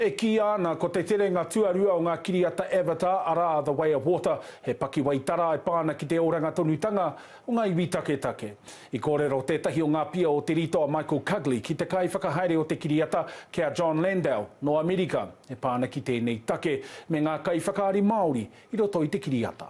E kīia ana ko te terenga tuarua o ngā kiriata Avatar, arā, The Way of Water, he pakiwai tara e pā ana ki te oranga tonutanga o ngā iwi taketake. I kōrero tētahi o ngā pia o Te Rito a Michael Cugley ki te kaiwhakahaere o te kiriata, ki a John Landau, nō Amerika, e pā ana ki tēnei take me ngā kaiwhakaari Māori i roto i te kiriata.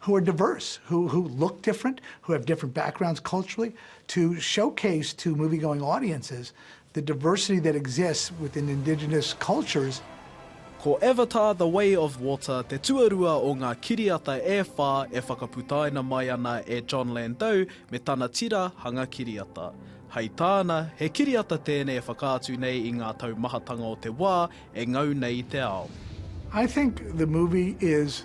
who are diverse, who who look different, who have different backgrounds culturally, to showcase to movie-going audiences the diversity that exists within indigenous cultures. Ko Avatar, The Way of Water te tuarua o ngā kiriata e whā e whakaputaina mai ana e Jon Landau me tana tira hanga kiriata. Hei tāna, he kiriata tēnei e whakaatu nei i ngā taumahatanga o te wā e ngau nei i te ao. I think the movie is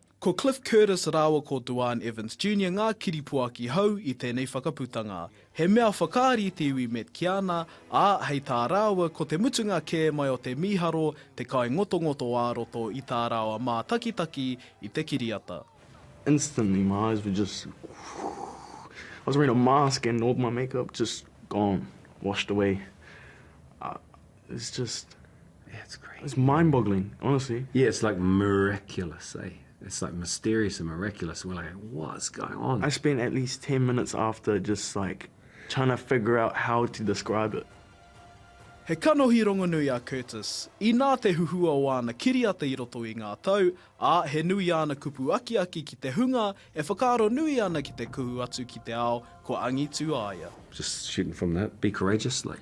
Ko Cliff Curtis rāua ko Duane Evans Junior ngā kiripuaki hou i tēnei whakaputanga. He mea whakaari te iwi Met Kiana, ā, hei tā rāua ko te mutunga kē mai o te mīharo te kaingotongoto ā-roto i tā rāua mātakitaki i te kiriata. Instantly my eyes were just I was wearing a mask and all my makeup just gone, washed away. It's just, yeah, it's crazy. It's mind-boggling, honestly. Yeah, it's like miraculous, eh? It's like mysterious and miraculous. We're like, what's going on? I spent at least 10 minutes after just like trying to figure out how to describe it. He kanohi rongonui a Curtis. Inā te huhua o āna kiriata i roto i ngā tau, ā, he nui āna kupu akiaki ki te hunga e whakaaro nui ana ki te kuhu atu ki te ao kua angitu a ia. Just shooting from the hip, be courageous, like,